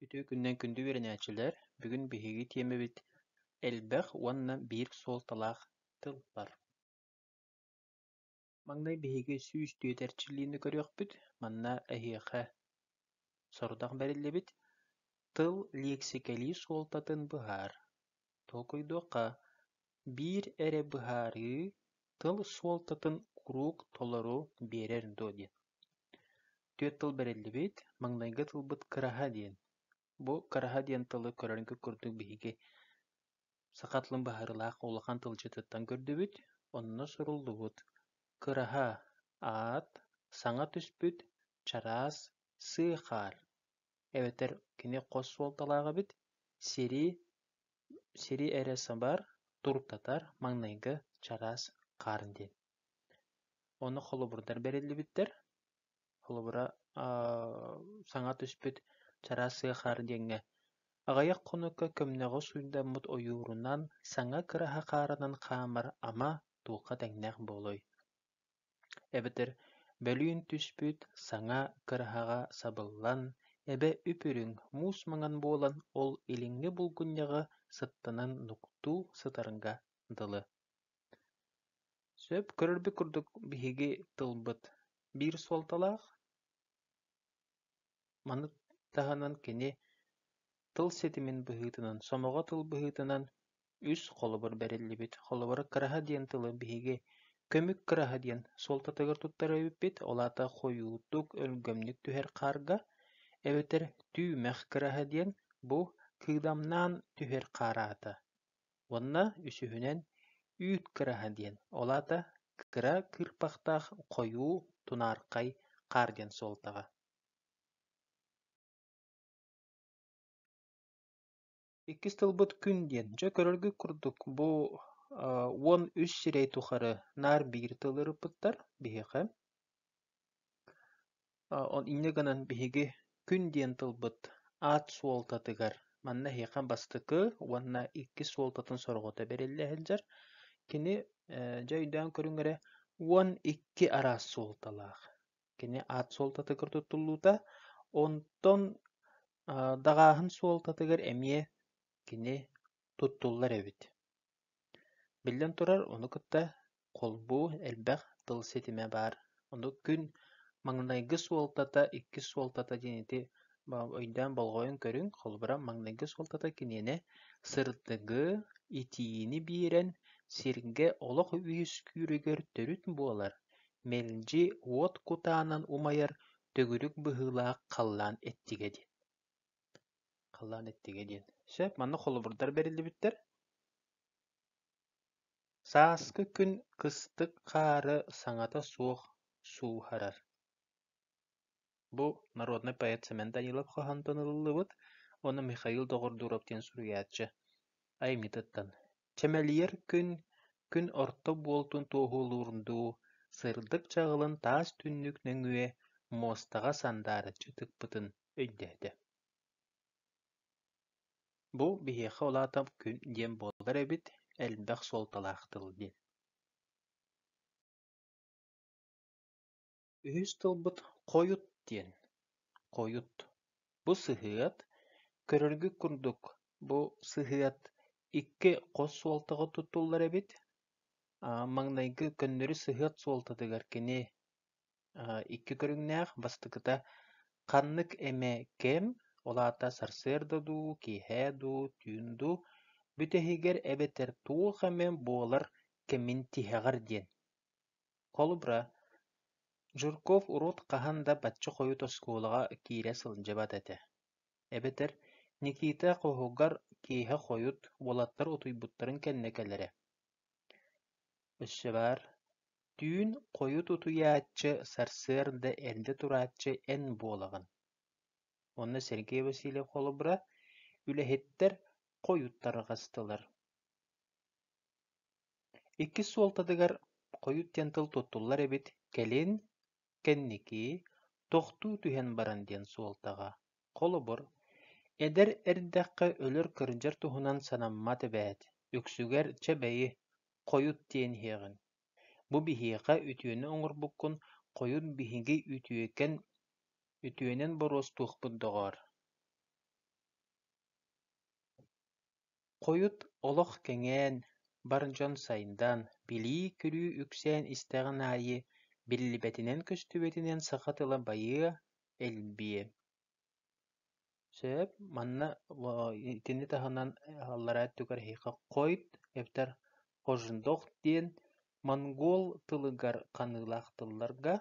Үтүө күннэн күндү үөрэнээччилэр! Бүгүн биһиги тиэмэбит элбэх уонна биир суолталаах тылбар. Маҥнай биһиги сүүс түөрт эрчиллиини көрүөхпүт. Манна эһиэхэ сорудах бэриллибит. Тыл лиэксикэлии суолтатын быһаар. Толкуйдуохха. Биир эрэ быһаарыы тыл суолтатын куруук толору биэрэр дуо диэн. Түөрт тыл бэриллибит, маҥнайгы тылбыт «кыраһа» диэн. Бу «кыраһа» диэн тылы көрөргүт курдук биһиги саха тылын быһаарыылаах улахан тылдьытыттан көрдүбүт, онно суруллубут «кыраһа» аат саҥа түспүт, чараас, сыы хаар. Эбэтэр кини хос суолталаах эбит, сири, сири эрэ сабар, туртатар маҥнайгы чараас хаар диэн. Ону холобурдар бэриллибиттэр. Холобура, саҥа түспүт «Чараас сыахаар» диэҥҥэ аҕыйах хонукка көмнөҕү сууйдаммыт ойуурунан, саҥа кыраһа хаарынан хаамар ама туохха тэҥнээх буолуой? Эбэтэр бөлүүн түспүт саҥа кыраһаҕа сабыллан, эбэ үп-үрүҥ, муус маҥан буолан, ол илиҥҥи булгунньаҕы сыттанан нуктуу сытарга дылы. Сөп көрөрбүт курдук биһиги тылбыт биир суолталаах, маны таһынан кини тыл ситимин быһыытынан, сомоҕо тыл быһыытынан үс холобур бэриллибит. Холобура «кыраһа» диэн тылы биһиги көмүк кыраһа диэн суолтатыгар туттара эбиппит, ол аата хойуутук, өлгөмнүк түһэр хаарга, эбэтэр түүмэх кыраһа диэн бу кыыдамнаан түһэр хаар аата. Уонна үсүһүнэн «Үүт кыраһа» диэн, ол аата кыра кыырпахтаах хойуу тунаархай хаар диэн суолтаҕа Иккис тылбыт «күн» диэн. Дьэ, көрөргүт курдук, бу уон үс сирэй тухары наар биир тыл ырыппыттар биһиэхэ. Инньэ гынан биһиги күн диэн тылбыт аат суолтатыгар манна эһиэхэ бастакы уонна иккис суолтатын сорҕото бэриллэ сылдьар. Кини дьэ өйдөөн көрүҥ эрэ уон икки араас суолталаах. Кини аат суолтатыгар туттуллуута. Онтон даҕааһын суолтатыгар эмиэ кини туттуллар эбит. Биллэн турар, ону кытта холбуу элбэх тыл ситимэ баар, ону күн маҥнайгы суолтата иккис суолтата диэни өйдөөн болҕойон көрүҥ, холобура, маҥнайгы суолтата киниэнэ сырдыгы, итиини биэрэн сиргэ олох үөскүүрүгэр төрүт буолар, мэлдьи уот кутаанан умайар төгүрүк быһыылаах халлаан эттигэ диэн Халлаан эттигэ диэн, сөп, манна холобурдар бэриллибиттэр Сааскы күн кыстык хаары саҥата суох сууһарар. Бу народнай поэт Семен Данилов хоһоонтон ылыллыбыт уонна Михаил Доҕордуров диэн суруйааччы айымньытыттан «Чэмэлийэр күн, күн орто буолтун туоһулуурун дуу, сырдык чаҕылын таас түннүк нөҥүө муостаҕа сандаарыччы тыкпытын өйдөөтө: «Бу биһиэхэ улаатар күн диэн буолар эбит, элбэх суолталаах тыл» диэн Үһүс тылбыт «хойут» диэн. «Хойут» бу сыһыат. Көрөргүт курдук, бу сыһыат икки хос суолтаҕа туттуллар эбит. Маҥнайгы көннөрү сыһыат суолтатыгар кини Икки көрүҥнээх бастакыта ханнык эмэ кэм, ол аата сарсыарда дуу, киэһэ дуу, түүн дуу, бүтэһигэр эбэтэр туох эмэ буолар кэмин тиһэҕэр диэн. Холобура, Жирков урут хаһан да бачча хойут оскуолаҕа киирэ сылдьыбат этэ. Эбэтэр Никита хоһугар киэһэ хойут уолаттар утуйбуттарын кэннэ кэлэрэ. Өссө баар, түүн хойут утуйааччы сарсыарда эрдэ турааччы эн буолаҕын. Уонна Сергей Васильев холобура, үлэһиттэр хойуттарга астылар Иккис суолтатыгар хойут диэн тыл туттуллар эбит, кэлин кэнники тохтуу түһэн баран диэн суолтаҕа, холобур, эдэр эрдэххэ өлөр кырдьар туһунан санаммат эбээт, үксүгэр «Чэ бэйи, хойут диэн иһиэҕиҥ, бу биһиэхэ үтүөнү оҥорбуккун, хойут биһиги үтүөкэн үтүөнэн боруостуохпут доҕоор» Хойут олох кэҥээн, бар дьон сайдан, билии-күлүү үксээн истэҕин аайы биллибэтинэн көстүбэтинэн саха тыла байыа, элбиэ Сөп, манна итини таһынан аллараа өттүгэр эһиэхэ хойут эбэтэр хожндох диэн монгуол тылыгар ханыылаах тылларга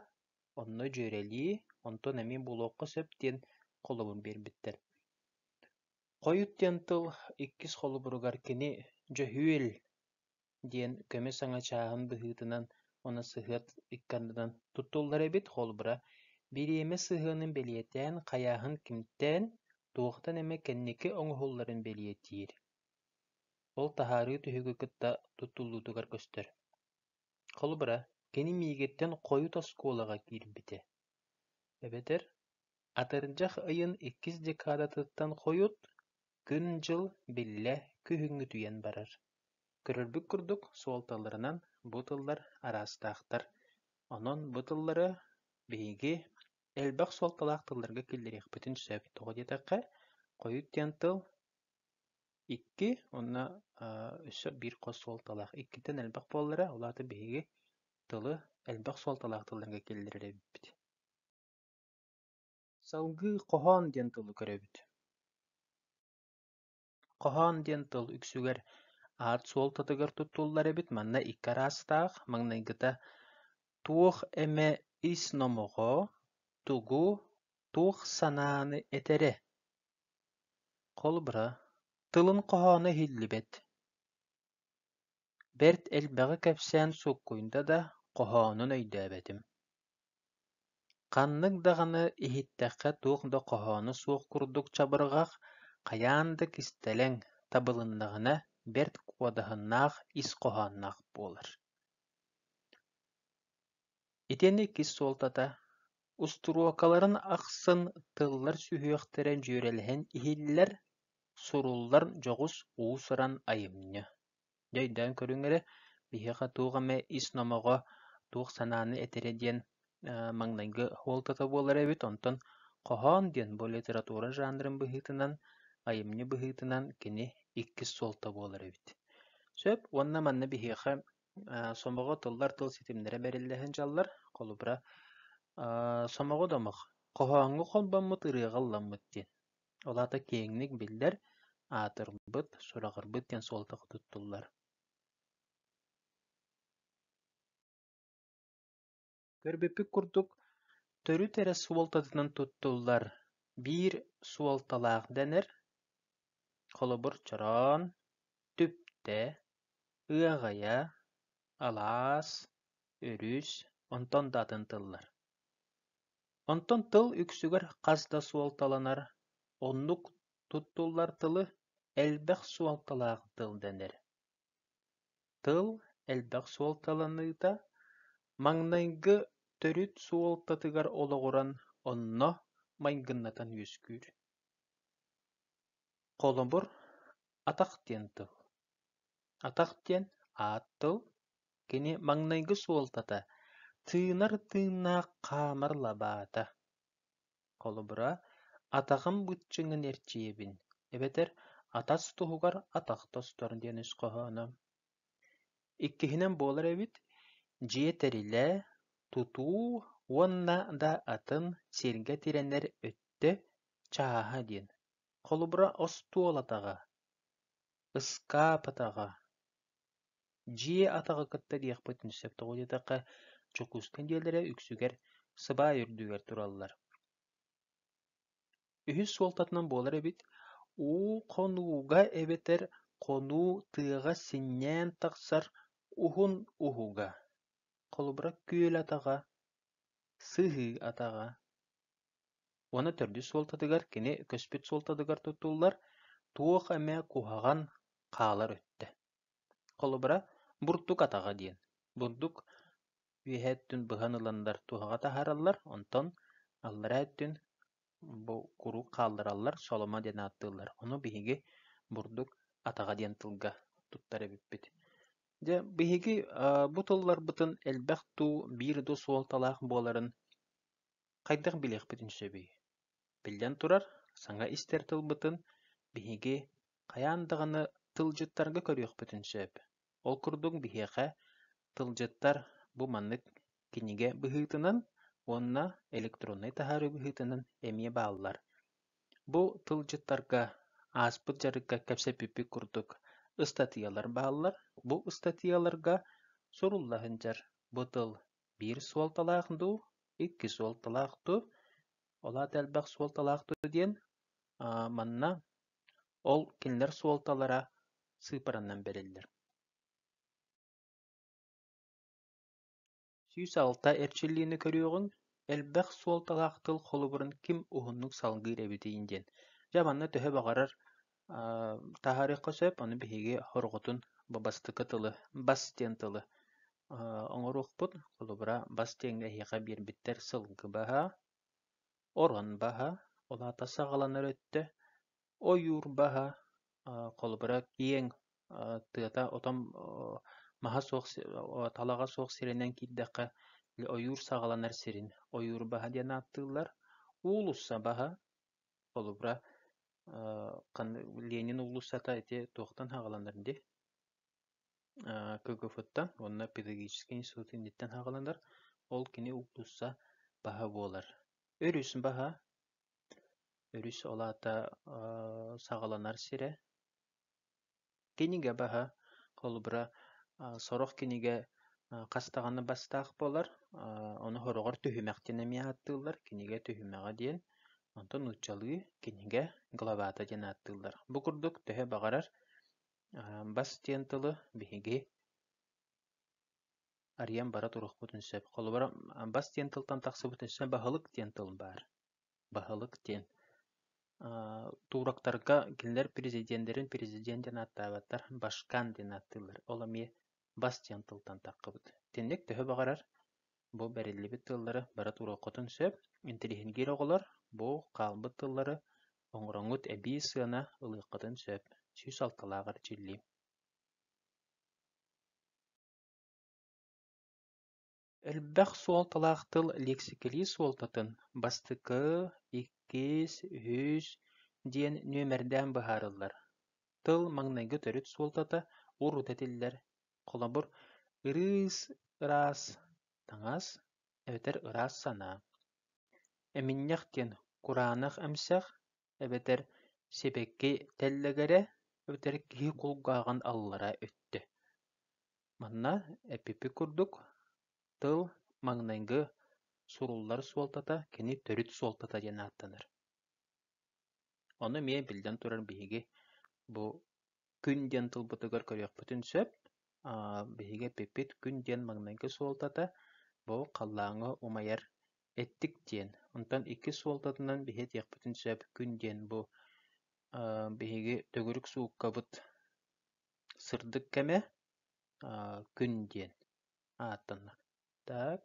онно дьүөрэлии, онтон эмиэ булуохха сөп диэн холобун биэрбиттэр Хойут диэн тыл иккис холобуругар кини «дьөһүөл» диэн көмө саҥа чааһын быһыытынан уонна сыһыат икки ардынан туттуллар эбит, холобура, бириэмэ сыһыанын бэлиэтээн, хайааһын кимтээн, туохтан эмэ кэнники оҥоһулларын бэлиэтиир. Ол таһаарыы түһүгү кытта туттуллуутугар көстөр. Холобура, кини миигиттэн хойут оскуолаҕа киирбитэ. Эбэтэр Атырдьах ыйын иккис декадатыттан хойут, күн-дьыл биллэ күһүҥҥүтүйэн барар. Көрөрбүт курдук, суолталарынан бу тыллар араастаахтар. Онон бу тыллары биһиги элбэх суолталаах тылларга киллэриэхпитин сөп. Тоҕо диэтэххэ, хойут диэн тыл икки уонна өссө биир хос суолталаах. Иккитин элбэх буолара, ол аата биһиги тылы элбэх суолталаах тылларга киллэрэр эбиппит. Салгыы хоһоон диэн тылы көрөбүт. Хоһоон диэн тыл үксүгэр аат суолтатыгар туттуллар эбит, манна икки араастаах, маҥнайгыта «туох эмэ ис номоҕо», «тугу», «туох санааны этэрэ». Холобура, тылын хоһооно иһиллибэт. бэрт элбэҕи кэпсээн суккуйда да, хоһоонун өйдөөбөтүм Ханнык даҕаны иһиттэххэ туох да хоһооно суох курдук чабырҕах, хайаан да кистэлэҥ, табылыннаҕына бэрт куодаһыннаах ис хоһоонноох буолар Итиэннэ иккис суолтата устуруокаларын ахсын тыллар сүһүөхтэрэ дьүөрэлэһэн иһиллэр, суруллар дьоҕус уус-уран айымньы Дьэ өйдөөн көрүҥ эрэ, биһиэхэ туох эмэ ис номоҕо, туох санааны этэрэ диэн маҥнайгы суолтата буолар эбит, онтон хоһоон диэн бу литература жанрын быһыытынан, айымньы быһыытынан кини иккис суолта буолар эбит. Сөп уонна манна биһиэхэ сомоҕо тыллар тыл ситимнэрэ бэриллэһин дьаллар. Холобура, сомоҕо домох, хоһооҥҥо холбоммут, ырыаҕа ылламмыт диэн. Ол аата киэҥник биллэр, аатырбыт, сураҕырбыт диэн суолтаҕа туттуллар Көрбүппүт курдук, төрүт эрэ суолтатынан туттуллар биир суолталаах дэнэр, холобур, чороон, түптэ, ыаҕайа, алаас, өрүс, онтон да атын тыллар Онтон тыл үксүгэр хас да суолталанар, оннук туттуллар тылы элбэх суолталаах тыл дэнэр. Тыл элбэх суолталаныыта маҥнайгы төрүт суолтатыгар олоҕуран онно майгыннатан үөскүүр. Холобур, атах диэн тыл. Атах диэн аат тыл. кини маҥнайгы суолтата тыынар тыыннаах хаамар лабаата. Холобура, атаҕым быччыҥын эрчийэбин, эбэтэр атас туһугар атах тостор диэн үс хоһооно. Иккиһинэн буолар эбит, дьиэ тэрилэ, тутуу уонна да атын сиргэ тирэнэр өттө чааһа диэн. Холобура, остуол атаҕа, ыскаап атаҕа, Дьиэ атаҕы кытта диэхпитин сөп тоҕо диэтэххэ, Дьокуускай дьиэлэрэ үксүгэр сыбаай үрдүгэр тураллар үһүс суолтатынан буолар эбит уу хонууга эбэтэр хонуу тыаҕа синньээн тахсар уһун уһуга холобура күөл атаҕа сыһыы атаҕа Уонна төрдүс суолтатыгар кини көспүт суолтатыгар туттуллар туох эмэ куһаҕан хаалар өттө. Холобура, бурдук атаҕа диэн. Бурдук үөһэ өттүн быһан ыланнар туһаҕа таһаараллар, онтон аллараа өттүн бу куруук хааллараллар, соломо диэн ааттыыллар. Ону биһиги бурдук атаҕа диэн тылга туттар эбиппит. Дьэ, биһиги бу тылларбытын элбэх дуу, биир дуу суолталаах буоларын хайдах билиэхпитин сөбүй? Биллэн турар, саҥа истэр тылбытын биһиги хайаан даҕаны тылдьыттарга көрүөхпүтүн сөп. Ол курдук биһиэхэ тылдьыттар бу маннык кинигэ быһыытынан уонна электроннай таһаарыы быһыытынан эмиэ бааллар. Бу тылдьыттарга ааспыт дьарыкка кэпсэппиппит курдук ыстатыйалар бааллар. Бу ыстатыйаларга сурулла сылдьар бу тыл Биир суолталаах дуу, икки суолталаах дуу, ол аата элбэх суолталаах дуу диэн аа, манна ол кинилэр суолталара сыыпаранан бэриллэр. Сүүс алта эрчиллиини көрүөҕүҥ, элбэх суолталаах тыл холобурун ким уһуннук салгыыр эбитий диэн. Дьэ манна төһө баҕарар Таһаарыахха сөп, ону биһиги хорҕотун бу бастакы тылы бас диэн тылы оҥоруохпут. Холобура, бас диэҥҥэ эһиэхэ биэрбиттэр сылгы баһа, орон баһа, ол аата саҕаланар өттө, ойуур баһа, холобура, киэҥ тыата отон маһа суох талаҕа суох сиринэн киирдэххэ ойуур саҕаланар сирин ойуур баһа диэн ааттыыллар. Уулусса баһа, Холобура, Ленин уулуссата ити туохтан саҕаланар дии? КГФ-тан уонна педагогическай институт инниттэн саҕаланар. Ол кини уулусса баһа буолар. Өрүс баһа. Өрүс ол аата саҕаланар сирэ. Кинигэ баһа, холобура, сорох кинигэ хас даҕаны бастаах буолар, ону сороҕор түһүмэхтэн эмиэ ааттыыллар, кинигэ түһүмэҕэ диэн. Онтон нууччалыы кинигэ главата диэн ааттыыллар. Бу курдук төһө баҕарар бас диэн тылы биһиги арыйан бара туруохпутун сөп. Холобура, бас диэн тылтан тахсыбытын сөп, баһылык диэн тыл баар. баһылык диэн турактарга кинилэр президеннэрин президент диэн ааттаабаттар башкан диэн ааттыыллар ол эмиэ бас диэн тылтан таххыбыт итинник төһө баҕарар бу бэриллибит тыллары бары туруоххутун сөп интеллигентгиир оҕолор бу хаалбыт тыллары оҥороҥҥут эбии сыана ылыаххытын сөп сүүс алталааҕар дьиллиим Элбэх суолталаах тыл лиэксикэлии суолтатын бастакы, иккис, үһүс диэн нүөмэрдээн быһаарыллар. Тыл маҥнайгы төрүт суолтата урут этиллэр. Холобур, ырыыс ыраас таҥас эбэтэр ыраас санаа. Эминньэх диэн кураанах эмсэх, эбэтэр сибэкки тэллэгэрэ эбэтэр киһи кулгааҕын аллара өттө. Манна эппиппит курдук, тыл маҥнайгы суруллар суолтата кини төрүт суолтата диэн ааттанар. Ону эмиэ биллэн турар биһиги бу күн диэн тылбытыгар көрүөхпүтүн сөп. биһиги эппиппит күн диэн маҥнайгы суолтата бу халлааҥҥа умайар эттик диэн. Онтон иккис суолтатынан биһи этиэхпитин сөп күн диэн бу биһиги төгүрүк сууккабыт сырдык кэмэ күн диэн ааттанна. Так,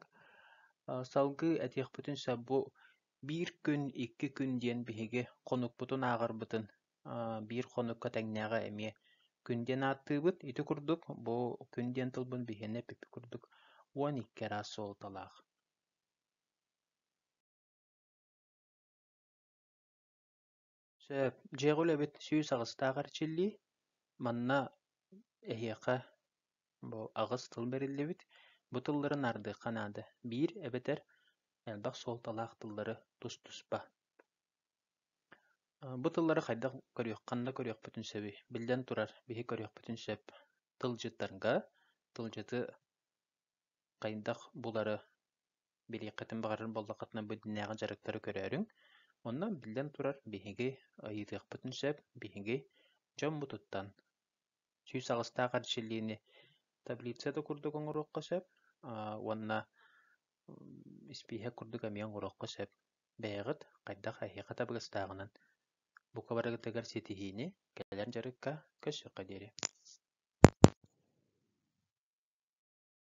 салгыы этиэхпитин сөп, бу биир күн, икки күн диэн биһиги хонукпутун ааҕарбытын, биир хонукка тэҥнээҕэ эмиэ күн диэн ааттыыбыт. Ити курдук бу күн диэн тылбын биһиэнэ эппиппит курдук уон икки араас суолталаах. Сөп, дьиэҕэ үлэбит сүүс аҕыстаах эрчиллии. Манна эһиэхэ бу аҕыс тыл бэриллибит. Бу тыллары наардыахха наада. Биир эбэтэр элбэх суолталаах тыллары тус-туспа. Бу тыллары хайдах көрүөххин да көрүөхпүтүн сөбүй? Биллэн турар, биһи көрүөхпүтүн сөп. Тылдьыттарга тылдьыты хайдах булары билиэххитин баҕарар буоллаххытына бу дьиҥнээҕи дьарыктары көрөөрүҥ. Онно, биллэн турар, биһиги ыйытыахпытын сөп, биһиги дьоммутуттан сүүс аҕыстаах эрчиллиини таблицата курдук оҥоруохха сөп уонна испииһэк курдук эмиэ оҥоруохха сөп. Бэйэҕит хайдах эһиэхэ табыгастааҕынан бука барыгытыгар ситиһиини, кэлэр дьарыкка көрсүөххэ диэри.